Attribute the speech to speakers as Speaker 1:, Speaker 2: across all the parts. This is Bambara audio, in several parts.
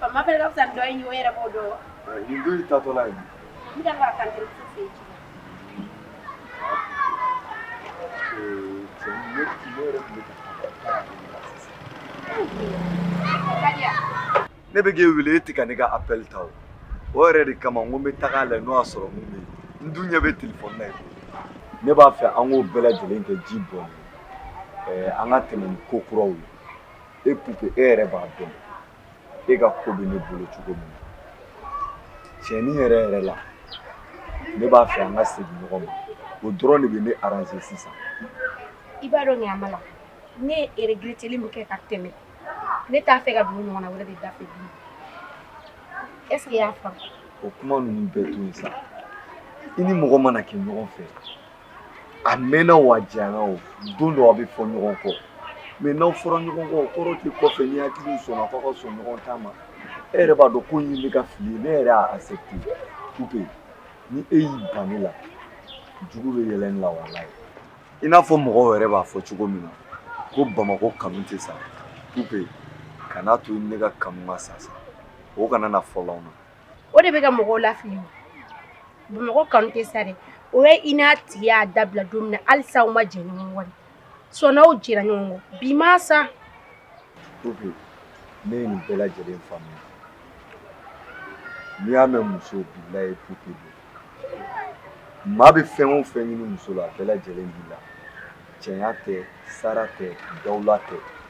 Speaker 1: Pamapele ka fisa ni dɔ in ye o yɛrɛ b'o dɔn. Nin dun y'i tatɔla ye. N bɛ ka kan tɛ fɛ yen. Cɛ ne tun yɛrɛ tun bɛ ka ne bɛ k'e wele e tɛ ka ne ka appel ta o o yɛrɛ de kama n ko n bɛ taga a lajɛ n'o y'a sɔrɔ mun bɛ yen n dun ɲɛ bɛ telefɔni na yen ne b'a fɛ an k'o bɛɛ lajɛlen kɛ ji bɔn an ka tɛmɛ ni ko kuraw ye e pupe e yɛrɛ b'a dɔn e ka ko bɛ ne bolo cogo min na tiɲɛnin yɛrɛ yɛrɛ la ne b'a fɛ an ka segin ɲɔgɔn ma o dɔrɔn de bɛ ne aranze sisan i b'a dɔn ɲaama la ne ye eregreteli min kɛ ka tɛmɛ ne t'a fɛ ka don o ɲɔgɔnna wɛrɛ de da fɛ bi est ce que i y'a faamu o kuma ninnu bɛɛ to yen sa i ni mɔgɔ mana kɛ ɲɔgɔn fɛ a mɛnna wo a janyana wo don dɔ aw bɛ fɔ ɲɔgɔn kɔ mais n'aw fɔra ɲɔgɔn kɔ o kɔrɔ tɛ kɔfɛ ni hakili sɔnna k'aw ka sɔn ɲɔgɔn ta ma e yɛrɛ b'a dɔn ko in ye ne ka fili ye ne yɛrɛ y'a accepté ou bien ni e y'i ban ne la juguw bɛ yɛlɛ ne la walayi i n'a fɔ mɔgɔw yɛrɛ b'a fɔ cogo min na ko bamakɔ kanu tɛ sa ou bien kana to ne ka kanu ka sa sa o kana na fɔlɔ anw na o de bɛ ka mɔgɔw lafili bamakɔ kanu tɛ sa dɛ o ye i n'a tigi y'a dabila don min halisa aw ma jɛ ɲɔgɔn sɔnw jɛra ɲɔgɔn bi ma sa ne ye nin bɛɛ lajɛlen faamuya n'i y'a mɛn muso bila ye pupe don maa bɛ fɛn o fɛn ɲini muso la a bɛɛ lajɛlen b'i la cɛɲa tɛ sara tɛ dawula tɛ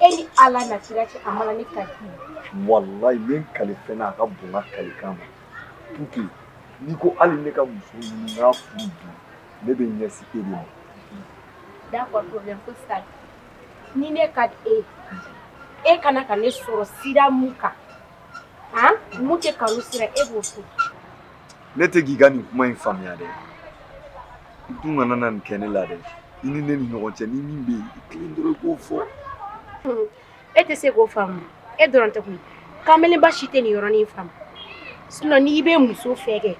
Speaker 1: e ni ala n'a kira cɛ a mana ne kali walayi n bɛ n kali fɛn na a ka bon n ka kalikan ma pupe n'i ko hali ne ka muso ɲini n k'a furu bi ne bɛ ɲɛsin e de ma d'accord problème ko sa ni ne ka di e ye e ka kan ka ne sɔrɔ sira mun kan han mun tɛ kanu sira e b'o to ne tɛ k'i ka nin kuma in faamuya dɛ i dun kana na nin kɛ ne la dɛ i ni ne ni ɲɔgɔn cɛ ni min bɛ yen i tilen dɔrɔn i k'o fɔ e tɛ se k'o faamu e dɔrɔn tɛ koyi kamalenba si tɛ nin yɔrɔnin faamu sinɔn n'i bɛ muso fɛ kɛ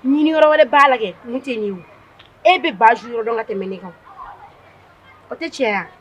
Speaker 1: ɲini yɔrɔ wɛrɛ b'a la kɛ mun tɛ nin ye o e bɛ baju yɔrɔ dɔn ka tɛmɛ ne kan o tɛ tiɲɛ ye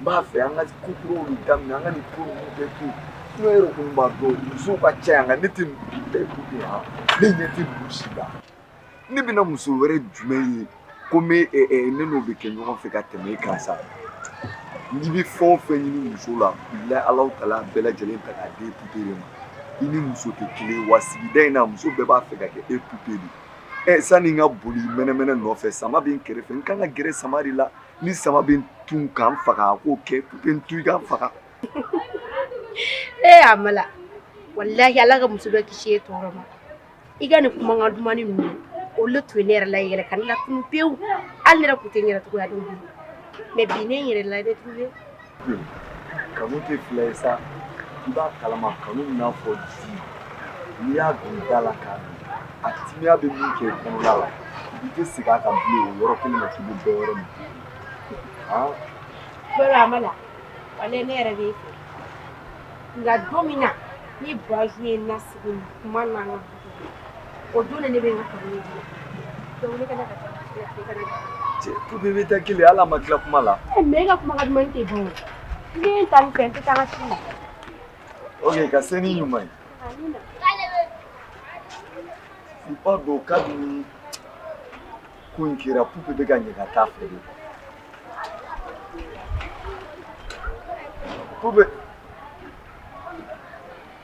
Speaker 1: n b'a fɛ an ka ko kuranin daminɛ an ka nin ko ninnu bɛɛ to yen e yɛrɛ kɔni b'a dɔn musow ka ca yan nka ne tɛ nin bɛɛ ko de yan ne ɲɛ tɛ ninnu si la ne bɛna muso wɛrɛ jumɛn ye ko n bɛ ne n'o bɛ kɛ ɲɔgɔn fɛ ka tɛmɛ e kan sa n'i bɛ fɛn o fɛn ɲini muso la bilayi ala taara a bɛɛ lajɛlen ta k'a di e pupe de ma i ni muso tɛ kelen ye wa sigida in na muso bɛɛ b'a fɛ ka kɛ e pupe de ye ɛ sani n ka boli mɛnɛmɛnɛ nɔfɛ sama bɛ n kɛrɛfɛ n kan ka gɛrɛ sama de la ni sama bɛ n tu ka n faga a k'o kɛ pupe n tu i ka n faga ee amala walahi ala ka muso dɔ kisi e tɔɔrɔ ma i ka nin kumakan dumani ninnu olu tun ye ne yɛrɛ la yɛrɛ ka ne latunun pewu hali ne yɛrɛ tun tɛ n yɛrɛ cogoya dɔn bi mais bi ne n yɛrɛ la dɛ tun kanu tɛ fila ye sa i b'a kalama kanu b'i n'a fɔ di n'i y'a don i da la k'a min a timiya bɛ min kɛ kɔnɔna la i tɛ segin a kan bilen o yɔrɔ kelen na k'i bɛ dɔ wɛrɛ min bolo amala walahi ne yɛrɛ b'e fɛ nka don min na ni bazu ye nasigi kuma na o dun ne bɛ n ka kanu ye dɔnkili kana ka taa pupe bɛ taa kelen hali a ma tila kuma la mais e ka kuma ka duman tɛ dun n ye ta ni fɛ n tɛ taa n ka ci la ok ka se ni ɲuman ye i b'a dɔn kabini ko in kɛra pupe b'i ka ɲɛ ka taa fɛ de pupe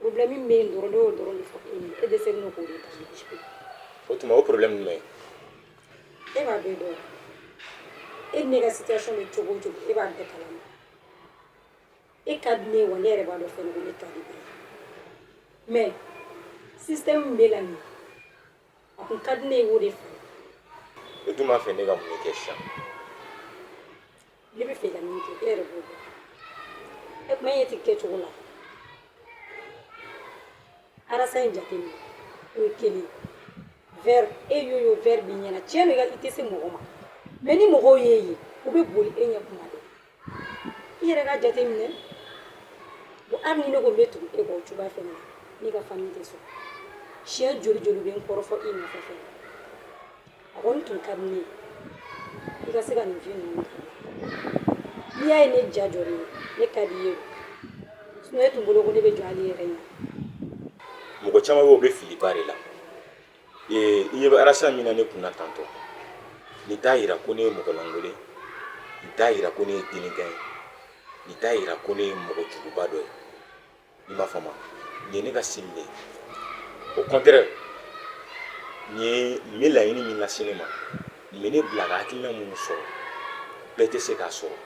Speaker 1: problème min bɛ yen dɔrɔn ne y'o dɔrɔn de fɔ e ye e dɛsɛlen don k'o de ta o tuma o problème jumɛn ye e b'a bɛɛ dɔn e ni ne ka situation bɛ cogo o cogo e b'a bɛɛ kalama e ka di ne ye wa ne yɛrɛ b'a dɔn fɛnɛ ko ne ka di e ye mais système min b'e la nin a tun ka di ne ye o de fɛ e dun b'a fɛ ne ka mun de kɛ sisan ne bɛ fɛ ka min kɛ e yɛrɛ b'o dɔn e kuma e ti kɛ cogo la arasa in jate minɛ o ye kelen verre e y'o y'o verre b'i ɲɛna tiɲɛ don i ka i tɛ se mɔgɔ ma mais ni mɔgɔw y'e ye u bɛ boli e ɲɛ tuma bɛɛ i yɛrɛ ka jate minɛ bon hali ni ne ko n bɛ tugu e kɔ o cogoya fɛnɛ na ne ka famille tɛ sɔn siɲɛ joli olu bɛ n kɔrɔfɔ i nɔfɛ fɛnɛ A kɔni tun ka ɲi i ka se ka nin fɛn ninnu n'i y'a ye ne ja jɔ ye ne ka di ye sun tun bolo ko ne bɛ jɔ ale yɛrɛ ye mɔgɔ caman bɛ bɛ filiba de la i ɲɛ bɛ arasa min na ne kun na tantɔ nin t'a jira ko ne ye mɔgɔlankolon ye nin t'a jira ko ne ye délinquant ye nin t'a jira ko ne ye mɔgɔ juguba dɔ ye i m'a faamu nin ye ne ka sini de ye au contraire nin bɛ laɲini min lase ne ma nin bɛ ne bila ka hakilina minnu sɔrɔ bɛɛ tɛ se k'a sɔrɔ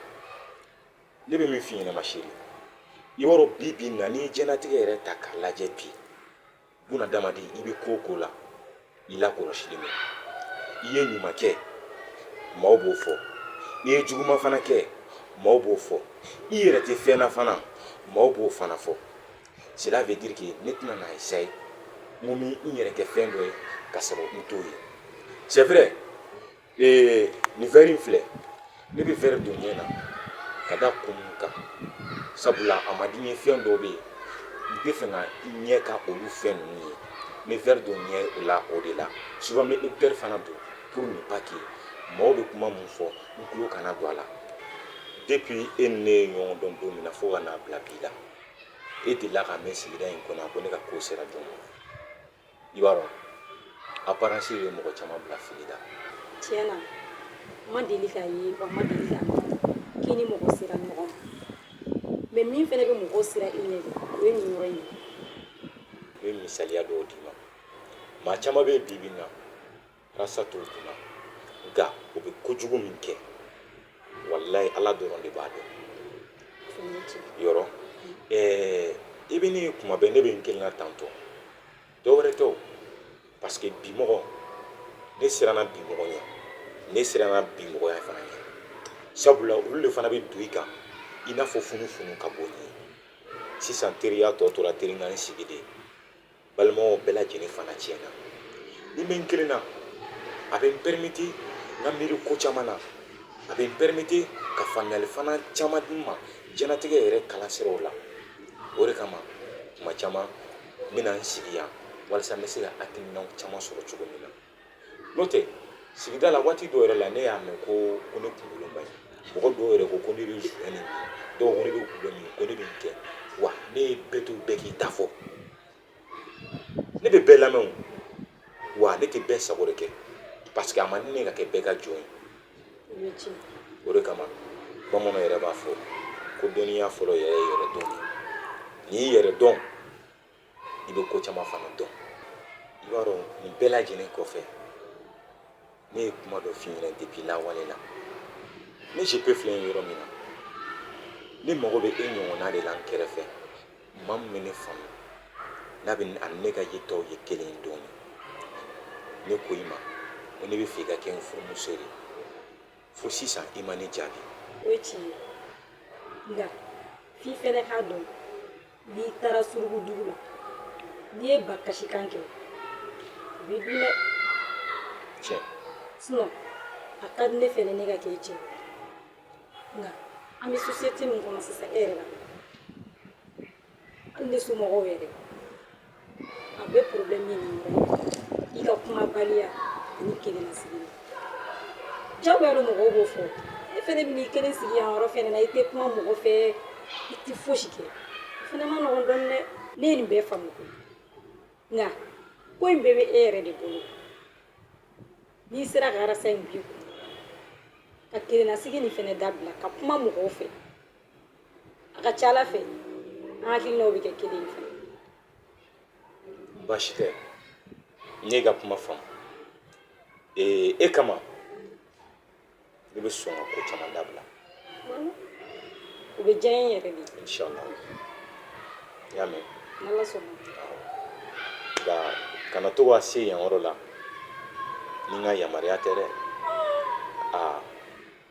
Speaker 1: ne bɛ min f'i ɲɛna ma chérie i b'a dɔn bi bi in na n'i ye diɲɛlatigɛ yɛrɛ ta k'a lajɛ bi buna adamaden i bɛ ko o ko la i lakɔlɔsilen bɛ i ye ɲuman kɛ maaw b'o fɔ n'i ye juguman fana kɛ maaw b'o fɔ i yɛrɛ tɛ fɛn na fana maaw b'o fana fɔ cela veut dire que ne tɛna na essayer n ko n bɛ n yɛrɛ kɛ fɛn dɔ ye ka sɔrɔ n t'o ye c'est vrai ee nin vɛri in filɛ ne bɛ vɛri don n ɲɛ na ka da kun min kan sabula a ma di n ye fɛn dɔw bɛ yen n t'a fɛ n ɲɛ ka olu fɛn ninnu ye n bɛ vɛri don n ɲɛ la o de la souvent n bɛ ecouteur fana don pour ne pas que mɔgɔw bɛ kuma min fɔ n tulo kana don a la depuis e ni ne ye ɲɔgɔn dɔn don min na fo ka n'a bila bi la e delila k'a mɛn sigida in kɔnɔ ko ne ka ko sera jɔn ma i b'a dɔn aparansi bɛ mɔgɔ caman bila fili la tiɲɛ na n ma deli k'a ye wa n ma deli k'a mɛn k'i ni mɔgɔ sera ɲɔgɔn ma mɛ min fana bɛ mɔgɔw siran i ɲɛ de o ye nin yɔrɔ in ye n bɛ misaliya dɔw d'i ma maa caman bɛ yen bi bi in na Rasta t'o kunna nka o bɛ kojugu min kɛ walayi Ala dɔrɔn de b'a dɔn yɔrɔ ɛɛ i bɛ ne kuma bɛɛ ne bɛ n kelen na tan ko dɔwɛrɛ tɛ o parce que bi mɔgɔ ne siranna bi mɔgɔ ɲɛ ne siranna bi mɔgɔya fana ɲɛ sabula olu de fana bɛ don i kan i n'a fɔ funufunu ka bɔ n ye sisan teriya tɔ tora terinkan sigi de ye Balimaw bɛɛ lajɛlen fana tiɲɛ na ni n bɛ n kelen na a bɛ n perimete n ka miiri ko caman na a bɛ n perimete ka faamuyali fana caman di n ma jɛnatigɛ yɛrɛ kalan siraw la o de kama tuma caman n bɛ na n sigi yan walasa n bɛ se ka hakilinaw caman sɔrɔ cogo min na n'o tɛ sigida la waati dɔw yɛrɛ la ne y'a mɛn ko ko ne kunkoloba ye mɔgɔ dɔw yɛrɛ ko ko ne bɛ joint min dɔw ko ne bɛ dɔlɔ min ko ne bɛ nin kɛ wa ne ye bɛɛ to bɛɛ k'i ta fɔ ne bɛ bɛɛ lamɛn wa ne tɛ bɛɛ sago de kɛ parce que a man ɲi ne ka kɛ bɛɛ ka jɔn ye o de kama bamananw yɛrɛ b'a fɔ ko dɔnniya fɔlɔ yɛrɛ ye yɛrɛdɔn ye n'i y'i yɛrɛ dɔn i bɛ ko caman fana dɔn i b'a dɔn nin bɛɛ lajɛlen kɔfɛ ne ye kuma dɔ f'i ɲɛna depi lawale la ne JP filɛ yɔrɔ min na ne mago bɛ e ɲɔgɔnna de la n kɛrɛfɛ maa min bɛ ne faamu n'a bɛ a ni ne ka yetaw ye kelen ye dɔɔni ne ko i ma ko ne b'a fɛ i ka kɛ n furumuso de ye fo sisan i ma ne jaabi o ye tiɲɛ ye nka f'i fɛnɛ k'a dɔn n'i taara surugu dugu la n'i ye ba kasikan kɛ u b'i dun dɛ tiɲɛ sinɔn a ka di ne fɛnɛ ne ka kɛ i cɛ nka an bɛ sosiyete min kɔnɔ sisan e yɛrɛ b'a dɔn hali ne somɔgɔw yɛrɛ A bɛ problème min na i ka kumabaliya ani kelennasigi jagoya don mɔgɔw b'o fɔ e fana bɛ n'i kelen sigi yan yɔrɔ fana na i tɛ kuma mɔgɔ fɛ i tɛ fosi kɛ o fana man nɔgɔn dɔɔni dɛ ne ye nin bɛɛ faamu koyi nka ko in bɛɛ bɛ e yɛrɛ de bolo n'i sera ka arasa in b'i kun ka kelenna sigi nin fana dabila ka kuma mɔgɔw fɛ a ka ca ala fɛ an hakilinaw bɛ kɛ kelen ye fana baasi tɛ ne y'i ka kuma faamu ee e kama ne bɛ sɔn ka ko caman dabila o bɛ diya n ye yɛrɛ de inshallah n y'a mɛn n'ala sɔnna nka kana to ka se yan yɔrɔ la ni n ka yamaruya tɛ dɛ aa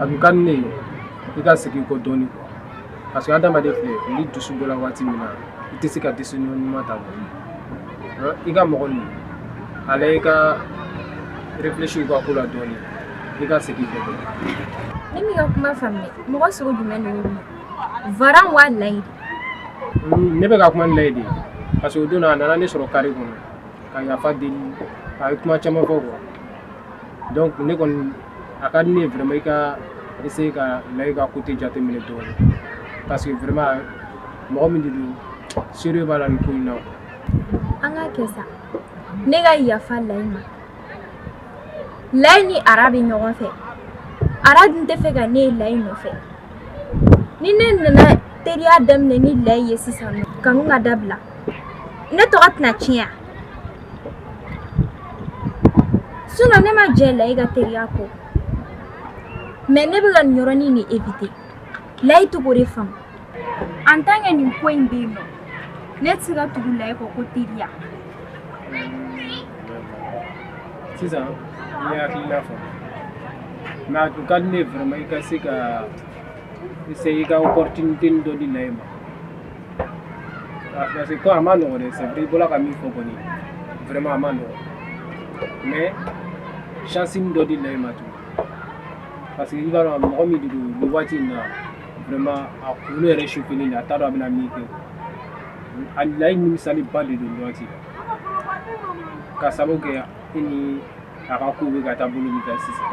Speaker 1: a tun ka di ne ye i ka segin kɔ dɔɔnin quoi parce que adamaden filɛ ni dusu bɔla waati min na i tɛ se ka décision ɲuman ta i ka mɔgɔ ni ala i ka réfléchir u ka ko la dɔɔnin i ka segin kɔ ne m'i ka kuma faamuya mɔgɔ sugu jumɛn de bɛ Ara wa layi ne bɛ ka kuma ni layi de parce que o don a nana ne sɔrɔ kare kɔnɔ ka yafa deli a ye kuma caman fɔ quoi donc ne kɔni a ka di ne ye vraiment i ka essayer ka Layi ka côté jateminɛ dɔɔni parce que vraiment mɔgɔ min de don sérieux b'a la nin ko in na quoi. An k'a kɛ sa ne ka yafa Layi ma Layi ni Ara bɛ ɲɔgɔn fɛ Ara dun t'a fɛ ka ne ye Layi nɔfɛ ni ne nana teriya daminɛ ni Layi ye sisan nɔ kanu ka dabila ne tɔgɔ tɛna tiɲɛ wa. Sinon ne ma jɛ layi ka teriya kɔ mais ne bɛ ka nin yɔrɔnin de eviter layi tɛ k'o de faamu en tant que nin ko in bɛ yen nɔ ne tɛ se ka tugu layi kɔ ko teriya. sisan e hakilina fɔ n ma a tun ka di ne ye vraiment i ka se ka essayer i ka opportunité dɔ di layi ma. ah, parce que ko a ma nɔgɔ dɛ c'est vrai i bɔla ka min fɔ kɔni vraiment a ma nɔgɔ mais chance nin dɔ di layi ma tun parce que i b'a dɔn mɔgɔ min de don nin waati in na vraiment a kunkolo yɛrɛ chauffélen de a t'a dɔn a bɛna min kɛ a layi nimisalenba de don nin waati la ka sababu kɛ i ni a ka kow bɛ ka taa bolo min kan sisan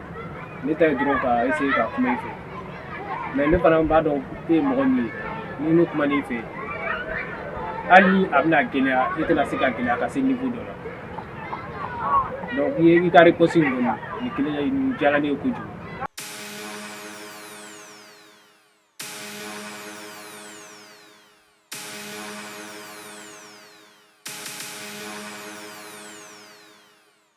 Speaker 1: ne ta ye dɔrɔn ka essayer ka kuma i fɛ mais ne fana b'a dɔn e ye mɔgɔ min ye ni ne kuman'i fɛ hali ni a bɛna gɛlɛya e tɛna se ka gɛlɛya ka se niveau dɔ la donc i ye i ka réponse in kɔni nin kelen nin diyara ne ye kojugu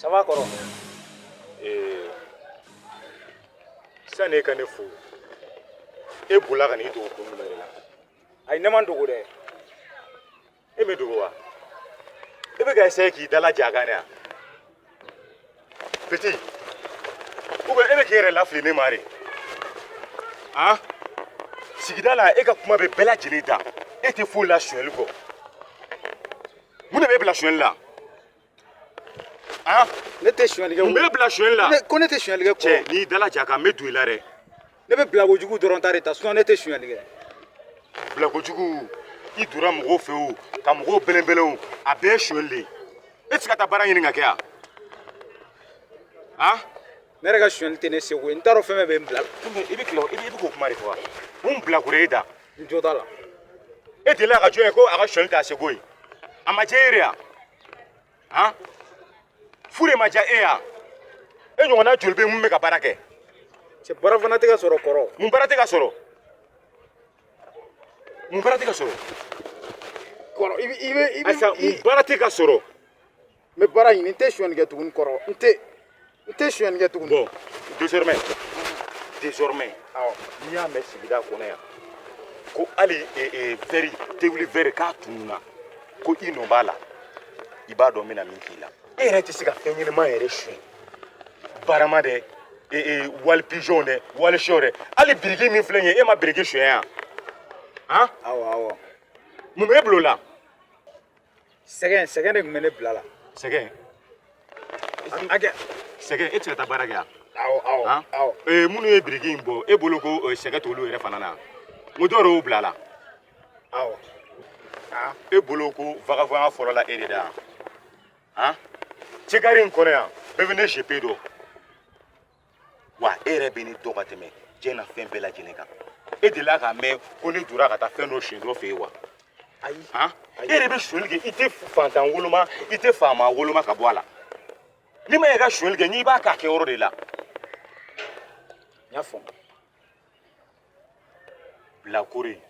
Speaker 1: sabali kɔrɔ ee sani e ka ne fo e bolila ka n'i dogo kun jumɛn de la ayi ne ma n dogo dɛ e m'i dogo wa e bɛ ka essayer k'i dalaja a kan de wa Petit, ou bien e bɛ k'i yɛrɛ lafili ne ma de han sigida la e ka kuma bɛ bɛɛ lajɛlen da e tɛ foyi la sonyali kɔ mun de b'e bila sonyali la han ne tɛ sonyali kɛ mun b'e bila sonyali la ko ne tɛ sonyali kɛ cɛ n'i dalaja a kan n bɛ don i la dɛ ne bɛ bilakojugu dɔrɔn ta de ta sinon ne tɛ sonyali kɛ bilakojugu i donna mɔgɔw fɛ o ka mɔgɔw bɛlɛnbɛlɛn o a bɛɛ ye sonyali de ye e tɛ se ka taa baara ɲini ka kɛ yan han ne yɛrɛ ka sonyali tɛ ne seko ye n t'a dɔn fɛn fɛn bɛ n bila i bɛ tila i bɛ k'o kuma de fɔ wa mun bilakoro ye da n jo t'a la e delila ka jɔn ye ko a ka sonyali t'a seko ye a ma diya e yɛrɛ ye wa han fu de ma diya e yan e ɲɔgɔnna joli bɛ mun bɛ ka baara kɛ cɛ baara fana tɛ ka sɔrɔ kɔrɔ mun baara tɛ ka sɔrɔ mun baara tɛ ka sɔrɔ kɔrɔ i bɛ i bɛ i bɛ ayisa mun baara tɛ ka sɔrɔ n bɛ baara ɲini n tɛ sonyani kɛ tuguni kɔrɔ n tɛ n tɛ sonyani kɛ tuguni. bon désormais désormais n'i y'a mɛn sigida kɔnɔ yan ko hali vɛri tewuli vɛri k'a tununna ko i nɔ b'a la i b'a dɔn n bɛna min k'i la. e yɛrɛ tɛ se ka fɛn ɲɛnama yɛrɛ suɲɛ barama dɛ wali pigeon dɛ wali sɔ dɛ hali biriki min filɛ nin ye e ma biriki suɲɛ yan. han. awɔ awɔ. mun b'e bolo la. sɛgɛn sɛgɛn de tun bɛ ne bila la sɛgɛn hakɛ sɛgɛn e tɛ se ka taa baara kɛ wa awɔ awɔ han awɔ ee minnu ye biriki in bɔ e bolo ko eh, sɛgɛn t'olu yɛrɛ fana na n ko dɔw yɛrɛ y'u bila a la awɔ aa e bolo ko vagabɔnya fɔlɔla e de da yan han cɛ kare in kɔnɔ yan bɛɛ bɛ ne JP dɔn wa e yɛrɛ bɛ ne dɔn ka tɛmɛ diɲɛ na fɛn bɛɛ lajɛlen kan e delila k'a mɛn ko ne donna ka taa fɛn dɔ sonyɛ dɔ fɛ yen wa ayi han e yɛrɛ bɛ sonyɛli kɛ i tɛ fantan woloma i tɛ faama woloma ka bɔ a la n'i b'a fɛ ka sonyɛli kɛ i b'a k'a kɛyɔrɔ de la i y'a faamu bilakoro ye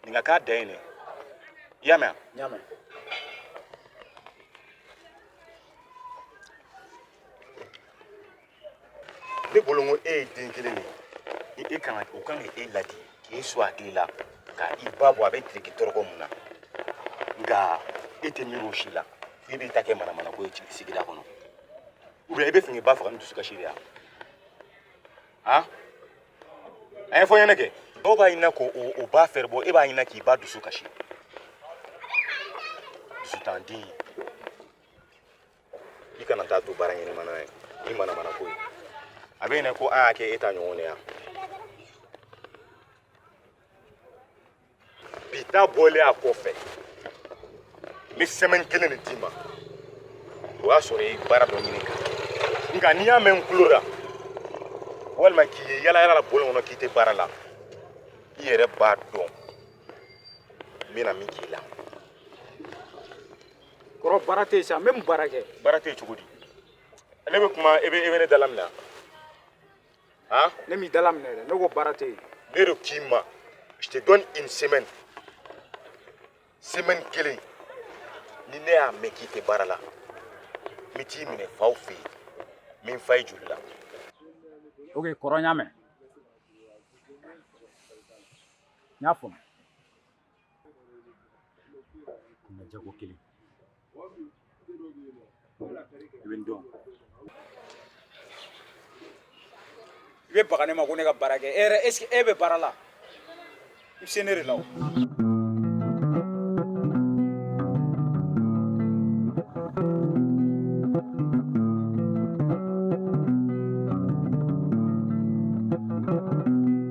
Speaker 1: Ninga ka den ne. I y'a mɛn. I y'a mɛn. Ne bolo ko e ye den kelen de ye. Ni e kan ka o kan ka e ladi k'e son hakili la ka i ba bɔ a bɛ tile kɛ tɔɔrɔ min na. Nka e tɛ miiri o si la. E b'i ta kɛ manamana ko ye sigida kɔnɔ. Ou bien e b'a fɛ k'i ba faga ni dusukasi de ye wa? Han? a ye fɔ ɲɛnɛ kɛ dɔw b'a ɲinina ko u ba fɛrɛ bɔ e b'a ɲinina k'i ba dusu kasi dusutanden i kana taa to baara ɲɛnama na yen i manamana ko ye a bɛ e ɲɛ na ko an y'a kɛ e ta ɲɔgɔn de ye wa bi ta bɔlen a kɔfɛ n bɛ semaine kelen de d'i ma o y'a sɔrɔ i ye baara dɔ ɲini ka nka ni n y'a mɛn n tulo la walima k'i ye yala yala la bɔlɔn kɔnɔ k'i tɛ baara la i yɛrɛ b'a dɔn n bɛna min k'i la kɔrɔ baara tɛ yen sa n bɛ mun baara kɛ baara tɛ yen cogo di ne bɛ kuma e bɛ e bɛ ne dalaminɛ ne m'i dalaminɛ dɛ ne ko baara tɛ yen ne de k'i ma je te donne une semaine semaine kelen ni ne y'a mɛn k'i tɛ baara la n bɛ t'i minɛ i faw fɛ yen n bɛ n fa i joli la ok kɔrɔ n y'a mɛn n y'a faamu na jago kelen i bɛ n dɔn i bɛ baga ne ma ko ne ka baara kɛ e yɛrɛ est ce que e bɛ baara la i bɛ se ne de la o.